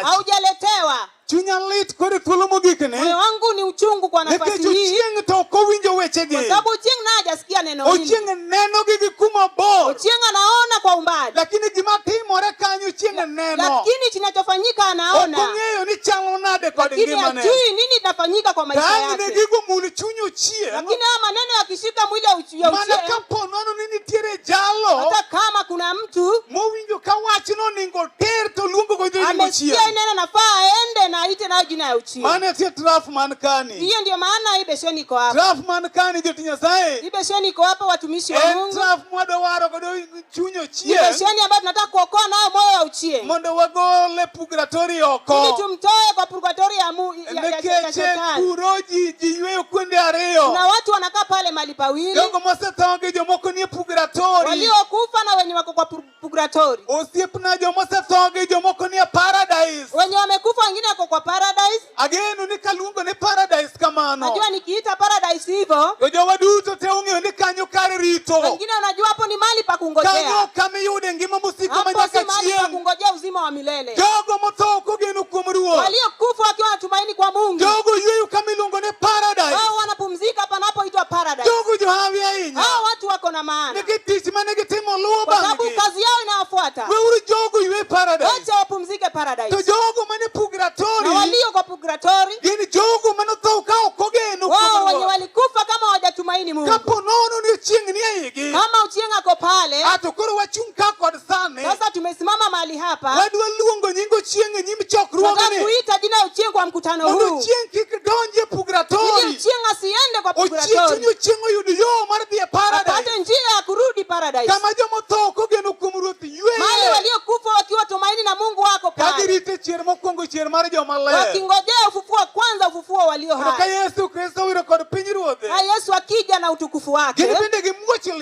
haujaletewa chunya lit kod thuolo mogikne moyo wangu ni uchungu kwa nafasi hii nikech ochieng' to ok owinjo wechegi kwa sababu ochieng' naye hajasikia neno hili ochieng' nenogi gi kuma bor ochieng' anaona kwa umbali lakini gima timore kanyo ochieng' neno lakini kinachofanyika anaona ok ong'eyo ni chalo nade kod ngimane lakini hajui nini inafanyika kwa maisha yake tang'ne gigo mul chuny ochieng' lakini haya maneno yakishika mwili ya uchieng' mana kapo nono ni nitiere jalo hata kama kuna watu mowinjo ka wachno oningo oter to luongo go jonyingo amesikia chien neno nafaa aende na aite nayo jina ya uchimu mane tie traf man kani hiyo ndio maana hii besheni iko hapa traf man kani joti nyasaye hii besheni iko hapa watumishi wa en mungu traf mwadwa waro godo chuny ni ochien besheni ambayo tunataka kuokoa nayo moyo wa uchimu mondo wagole pugratori ili oko tumtoe kwa purgatori ya mu Lekeche kuro ji ji yweyo kuonde ariyo. Na watu wanakaa pale mahali pawili. Jogo mosetho gi jomoko nie purgatori. Waliokufa na wenye wako kwa purgatori. Osiep na joma osetho gi jomoko nie paradise. Wenye wamekufa wengine wako kwa paradise. Ageno ni kaluongo ni paradise kamano. Najua nikiita paradise hivyo. Jowa duto te ung'eyo ni kanyo kar rito. Wengine unajua hapo ni mahali pa kungojea. Kanyo kama yude ngima mosiko manyaka chieng'. Hapo si mahali pa kungojea uzima wa milele. Jogo motho kogeno kuom Ruoth. Waliokufa wakiwa wanatumaini kwa Mungu. Jogo yweyo kama iluongo ni paradise. Hao wanapumzika panapoitwa paradise. Jogo johawi ahinya. Hao watu wako na maana. Nigi tich mane gitimo luwo bang'e. Kwa sababu kazi yao inawafuata. Weuru jogo ywe paradise. Wacha wapumzike paradise. To jogo mane purgatory. Na walio kwa purgatory. Gin jogo mane otho ka ok ogeno kuom Ruoth. Wao wenye walikufa kama hawajatumaini Mungu. Kapo nono ni chieng' ni e igi. Kama uchieng' ako pale. Ato koro wachung' ka kod sani sasa tumesimama mahali hapa wadwa luongo nying ochieng e nyim tunataka chokruogni kuita jina ya uchieng kwa mkutano mondo huu ochieng kik donj e ili purgatori uchieng asiende kwa ochieng chuny purgatori ochieng oyud yo mar dhi e paradis apate njia ya kurudi paradise kama joma otho kogeno kuom ruoth mahali yueye waliokufa wakiwa tumaini na mungu wako ka pale girito chier mokwongo chier mar joma ler wakingojea ufufuo wa kwanza ufufuo walio Kendo ka hai yesu kristo wiro kod pinyruodhe na yesu akija na utukufu wake gin bende gimuoch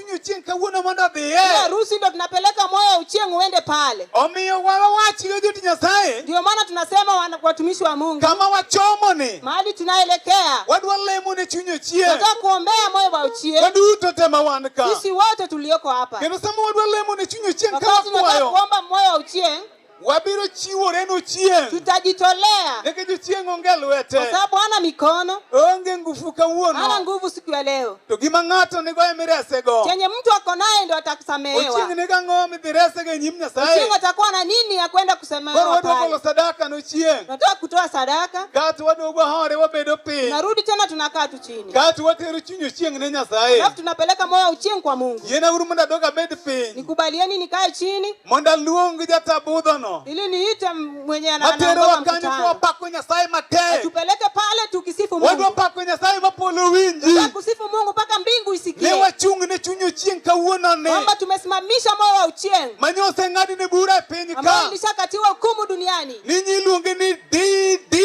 Omiyo chieng' kawuono mondo Ni odhiye. harusi ndo tunapeleka moyo uchieng uende pale Omiyo wawach ne joti Nyasaye ndio maana tunasema wana- watumishi wa mungu kama wachomo ni mahali tunaelekea wadwa lemo ne chuny ochieng'. tunataka kuombea moyo wa uchieng Waduto te ma wan ka. sisi wote tulioko hapa Kendo sama wadwa lemo ne chuny ochieng' ka wakati tunataka wakwayo. kuomba moyo wa uchieng Wabiro chiworenu chieng'. Tutajitolea. Nikech chieng' onge lwete. Kwa sababu hana mikono. Onge nguvu kawuono. Hana nguvu siku ya leo. To gima ng'ato nigo ema iresego. Chenye mtu ako naye ndio atakusamehewa. Ochieng' nigo ang'o midhiresego e nyim Nyasaye? Ochieng' atakuwa na nini ya kwenda kusamehewa pale? Koro waduogo sadaka no chieng'. Tunataka kutoa sadaka. Kato waduogo hore wabedo piny. Narudi tena tunakaa chini. Kati watero chuny ochieng' ne Nyasaye. Alafu tunapeleka moyo uchieng' kwa Mungu. Yena uru mondo adog abed piny. Nikubalieni nikae chini. Mondo aluong jatabudho no. Ili niite mwenye ana Atero wakanyo kwa pako Nyasaye matek. Tupeleke pale tukisifu Mungu. Wadwa pako Nyasaye mapolo winji. Tunakusifu Mungu mpaka mbingu isikie. Ne wachung' ne chuny ochieng' kawuono ne. Kwamba tumesimamisha moyo wa uchieng'. Manyo oseng'adi ne bura e piny ka. Ambayo ilishakatiwa hukumu duniani. Ninyi iluonge ni DD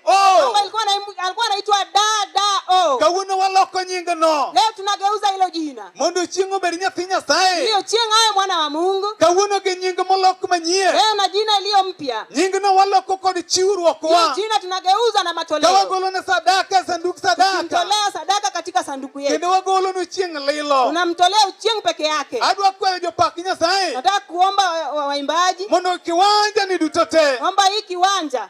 Oh. Alikuwa anaitwa dada oh. Kawuono waloko nyinga no. Leo tunageuza hilo jina. Mondo chieng' obed nyathi Nyasaye. Hiyo chieng' awe mwana wa Mungu. Kawuono gi nyinga molok manyie. Leo na jina iliyo mpya. Nyinga no waloko kod chiwruok wa. Hiyo jina tunageuza na matoleo. Kawagolo na sadaka sanduku sadaka. Tunamtolea sadaka katika sanduku yetu. Kendo wagolo no chieng' lilo. Tunamtolea chieng' peke yake. Adwa kwayo jopak Nyasaye. Nataka kuomba waimbaji. Mondo kiwanja ni duto te. Omba hii kiwanja.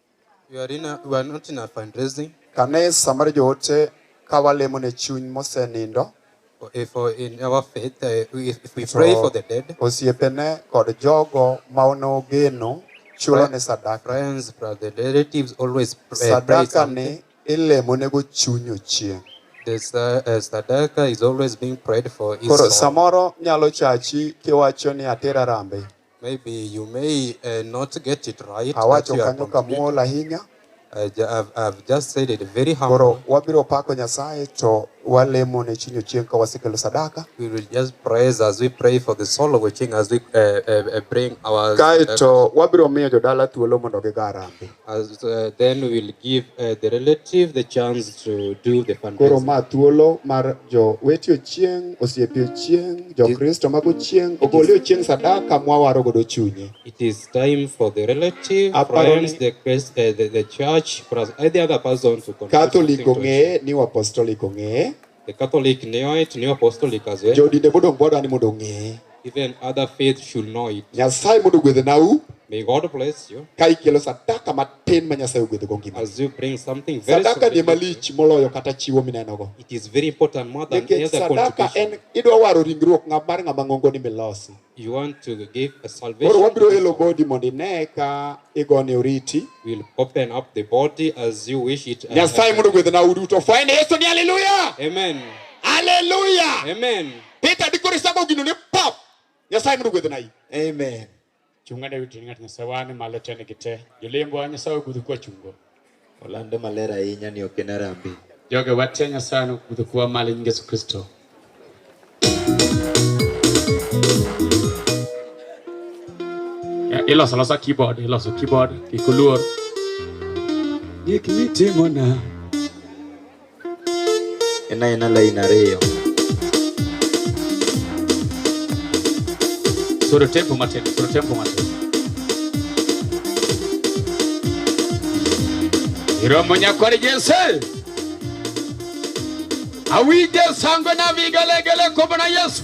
We are, in a, we are not in a fundraising. Kanisa mar joote ka walemo ne chuny mosenindo. If uh, in our faith, uh, if, if we so, pray for the dead. Osiepene kod jogo ma onogeno chulo ne sadaka. Friends, the relatives always pray. Sadaka ni ilemo ne go chuny ochieng'. The uh, sadaka is always being prayed for. Koro samoro nyalo chachi kiwacho ni atera rambe. Maybe you may uh, not get it right. Awacho kanyo kamuol ahinya. Uh, I've, I've just said it very humble. Koro wabiro pako Nyasaye to walemo ne chinyo chieng ka wasekelo sadaka. We will just praise as we pray for the soul of Ochieng as we uh, uh, uh bring our. Kae to wabiro miyo jodala thuolo mondo gigarambe. As, uh, then we will give uh, the relative the chance to do the Koro fundraising. ma thuolo mar jo weti ochieng', osiepe ochieng', jo Kristo mago ochieng', ogole ochieng' sadaka mwawaro godo chunye. It is time for the relative, Aparo friends, ni- the, Christ, uh, the, the church, plus any other person to contribute Catholic something to ong'eye, New Apostolic ong'eye, The Catholic knew it, New Apostolic as well. Jodinde mondo gwada ni mondo ng'e. Even other faith should know it. Nyasaye mondo gwedhe nau. May God bless you. Ka ikelo sadaka matin ma Nyasaye ogwedho go ngima. As you bring something very Sadaka ni malich moloyo kata chiwo mineno go. It is very important more than any other contribution. Sadaka en idwa waro ringruok ng'ama mar ng'ama ng'ongo ni milosi. You want to give a salvation. Koro wabiro elo body mondo ine ka igone oriti. We'll open up the body as you wish it. Nyasaye mondo gwedhe na uduto. Fwende Yesu ni hallelujah. Amen. Hallelujah. Amen. Peter dikore sago gino ne pop. Nyasaye mondo gwedhe na yi. Amen. Chungane witingat nyasaye wane malo tene gite. Jolembo nyasaye ogudhu kwa chungo. Olande maler ahinya ni ok en arambe. Joge watia Nyasaye nokudho kuwa malo nyinge Yesu Kristo. Iloso losa keyboard, iloso keyboard, kikuluor. Gik mitimona. ena ena lain ariyo soro tempo matin soro tempo matin iromo nyakwar jese awinje sango na vigelegele kobona yesu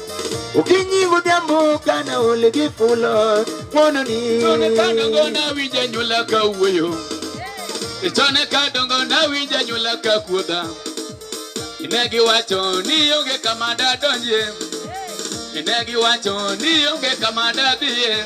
Ukinyi godhiambo kana ole gi fulo mono ni. Chone ka dongo nawinja nyula ka wuoyo. E chone ka dongo nawinja nyula ka kuodha. Ne giwacho ni onge kama dadonjie. Ne giwacho ni onge kama dadhiye.